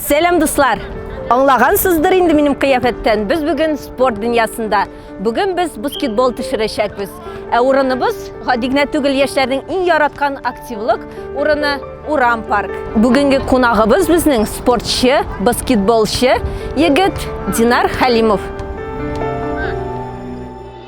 Сәлам дуслар! Аңлагансыздыр инде минем кыяфәттән. Без бүген спорт дөньясында. Бүген без баскетбол төшерәчәкбез. Ә урыныбыз гади генә түгел яшьләрнең иң яраткан активлык урыны Урам парк. Бүгенге кунагыбыз безнең спортчы, баскетболчы егет Динар Халимов.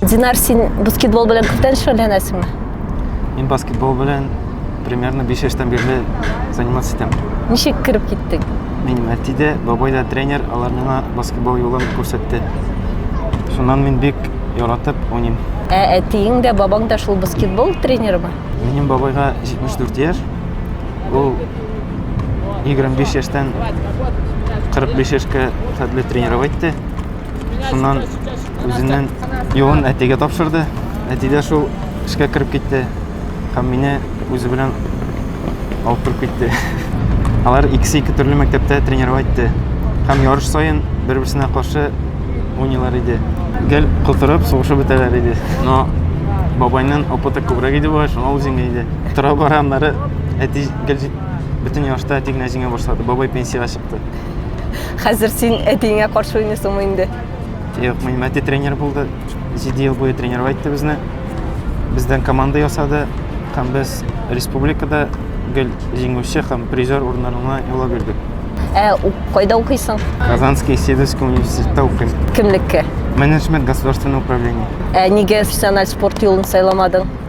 Динар, син баскетбол белән күптән шөгыльләнәсеңме? Мин баскетбол белән примерно 5 яшьтән бирле заниматься итәм. Ничек кереп киттең? Минем әти дә, бабай да тренер, алар миңа баскетбол юлын күрсәтте. Шуннан мин бик яратып уйныйм. Ә әтиең дә, бабаң да шул баскетбол тренерымы? Минем бабайга 74 яшь. Ул 25 яшьтән 45 яшькә хәтле тренировать итте. Шуннан үзеннән юлын әтигә тапшырды. Әти дә шул эшкә кереп китте һәм мине үзе белән алып торып китте. Алар икесе ике төрле мәктәптә тренерга итте һәм ярыш саен бер-берсенә каршы уйныйлар иде. Гел котырып, сугышып бетәләр иде. Но бабайның опыты күбрәк иде бугай, шуңа ул җиңә иде. Тора-бара аннары әти гел бөтен ярышта әти генә җиңә башлады. Бабай пенсиягә чыкты. Хәзер син әтиеңә каршы уйныйсыңмы инде? Юк, минем әти тренер булды. Җиде ел буе тренировать итте безне. Бездән команда ясады һәм без республикада гел җиңүче һәм призер урыннарына юллап йөрдек. Ә кайда укыйсың? Казанский Сидовский университетта укыйм. Кемлеккә? Менеджмент государственного управления. Ә нигә профессиональ спорт юлын сайламадың?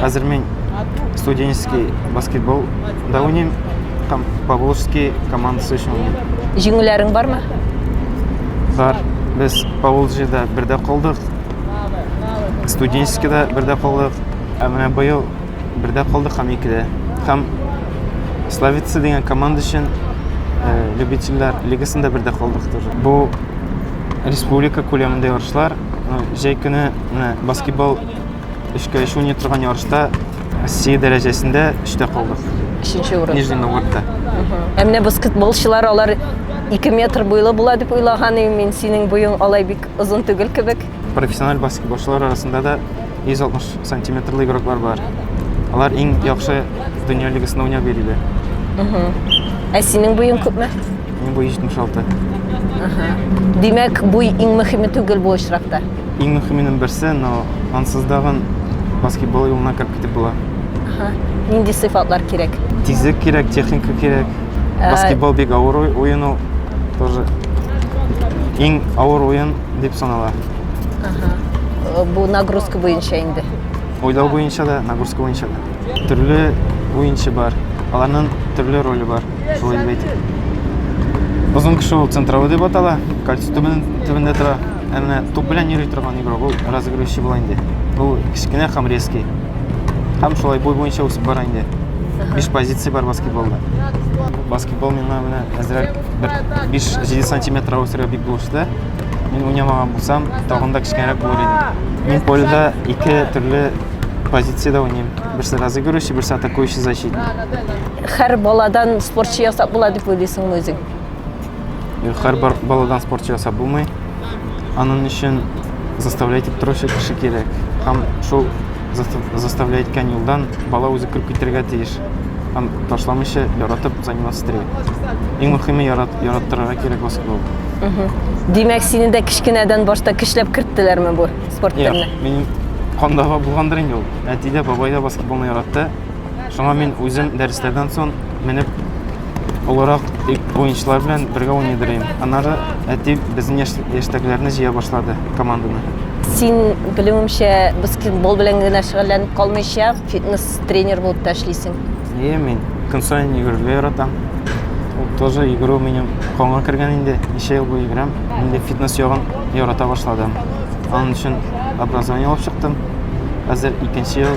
Хәзер мин студенческий баскетбол да уйныйм һәм Павловский командасы өчен уйныйм. Җиңүләрең бармы? Бар. Без Павловскида бердә калдык. Студенческийда бердә калдык. Ә менә быел бердә калдык һәм икедә. Һәм Славица дигән команда өчен э, любительләр лигасында бердә калдык тоже. Бу республика күләмендә ярышлар. Э, Җәй көне менә баскетбол өчкә өч уйный торган ярышта россия дәрәҗәсендә өчтә калдык өченче урын нижний новгородта ә менә баскетболчылар алар ике метр буйлы була дип уйлаган идем мин синең буең алай бик озын түгел кебек профессиональ баскетболчылар арасында да 160 сантиметрлы игроклар бар алар иң яхшы дөнья лигасында уйнап йөриләр ә синең буең күпме минем буй 76 димәк буй иң мөһиме түгел бу очракта Иң мөхименең берсе, но ансыз дагын баскетбол юлына кереп китеп була. Ха, нинди сыйфатлар кирәк? Тизлек кирәк, техника кирәк. Ә... Баскетбол бик авыр уен ул. Тоже иң авыр уен дип санала. Ага. Э, бу нагрузка буенча инде. Уйлау буенча да, нагрузка буенча да. Төрле уенчы бар. Аларның төрле роле бар. Шулай дип әйтик. Озын кеше ул центровый дип атала. Кольцо төбендә тора. Ә менә туп белән йөри торган игрок ул разыгрывающий була инде. Ул кечкенә һәм резкий. Һәм шулай буй буенча үсеп бара инде. Биш позиция бар баскетболда. Баскетбол миңа менә әзрәк бер 5-7 сантиметр үсергә бик булышты. Мин уйнамаган булсам, тагын да кечкенәрәк булыр идем. Мин поледа ике төрле позициядә уйныйм. Берсе разыгрывающий, берсе атакующий защитник. Һәр баладан спортчы ясап була дип уйлыйсыңмы үзең? Һәр баладан спортчы ясап булмый. Аның өчен заставлять итеп торучы кеше кирәк. Һәм шул заставлять иткән юлдан бала үзе көлеп китәргә тиеш. Һәм ташламыйча яратып заниматься итәргә. Иң мөһиме ярат, яраттырырга кирәк баскетбол. Димәк, сине дә кечкенәдән башта көчләп керттеләрме бу спорт төренә? Мин кандагы булгандыр инде ул. Әти дә, бабай да баскетболны яратты. Шуңа мин үзем дәресләрдән соң менеп олырак уенчылар белән бергә уйный дөрим. Аннары әти безнең яшь, яшьтәгеләрне җыя башлады команданы. Син, белүемчә, баскетбол белән генә шөгыльләнеп калмыйча, фитнес-тренер булып та эшлисең. Ие, мин көн саен йөгерергә яратам. Ул тоже йөгерү минем канга кергән инде. Ничә ел буе йөгерәм. Инде фитнес ягын ярата башладым. Аның өчен образование алып чыктым. Хәзер икенче ел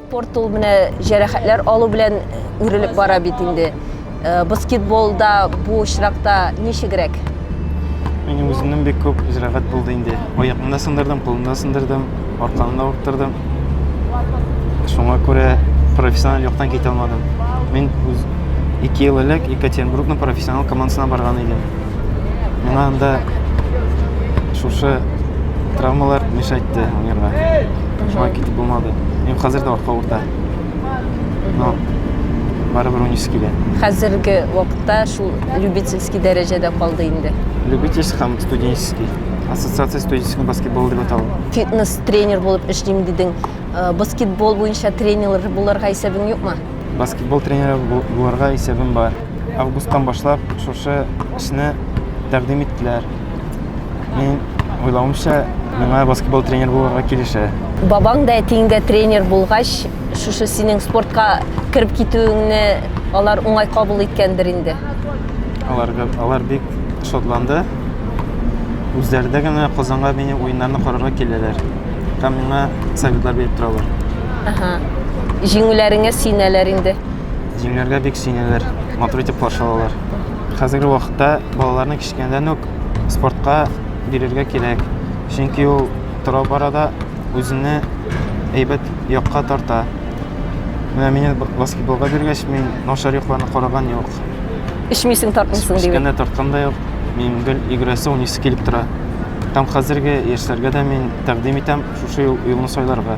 Спорт ул менә җәрәхәтләр алу белән үрелеп бара бит инде. Э, баскетболда бу очракта ничегрәк? Минем үземнең бик күп җәрәхәт булды инде. Аякны да сындырдым, кулны да сындырдым, арканы да урттырдым. Шуңа күрә профессиональ яктан китә алмадым. Мин үз 2 ел элек Екатеринбургның профессиональ командасына барган идем. Миңа анда шушы травмалар мешайтты уйнарга. Шуңа китеп булмады. Мин хәзер дә артка урта. Но барыбер унис килә. Хәзерге вакытта шул любительский дәрәҗәдә калды инде. Любительский һәм студенческий. Ассоциация студенческого баскетбола дип атала. Фитнес тренер булып эшлим дидең. Э, баскетбол буенча тренер буларга исәбең юкмы? Баскетбол тренеры буларга исәбем бар. Августтан башлап шушы эшне тәкъдим иттеләр. Мин уйлавымча, миңа баскетбол тренер булырга килешә. Бабаң да әтиң дә тренер булгач, шушы синең спортка кереп китүеңне алар уңай кабул иткәндер инде. Алар, алар бик шатланды. Үзләре дә генә Казанга мені уеннарны карарга киләләр. Һәм миңа советлар биреп торалар. Ага. Җиңүләреңә сөенәләр инде. Җиңнәргә бик сөенәләр, матур итеп каршы алалар. Хәзерге вакытта балаларны кечкенәдән үк спортка бирергә кирәк. Чөнки ул тора-бара да үзенне әйбәт якка тарта. Менә мине баскетболга биргәч, мин начар якларны караган юк. Эчмисең, тартмыйсың дип. Кечкенә тарткан да юк. Мин гел йөгерәсе, уйныйсы килеп тора. Һәм хәзерге яшьләргә дә мин тәкъдим итәм шушы юлны сайларга.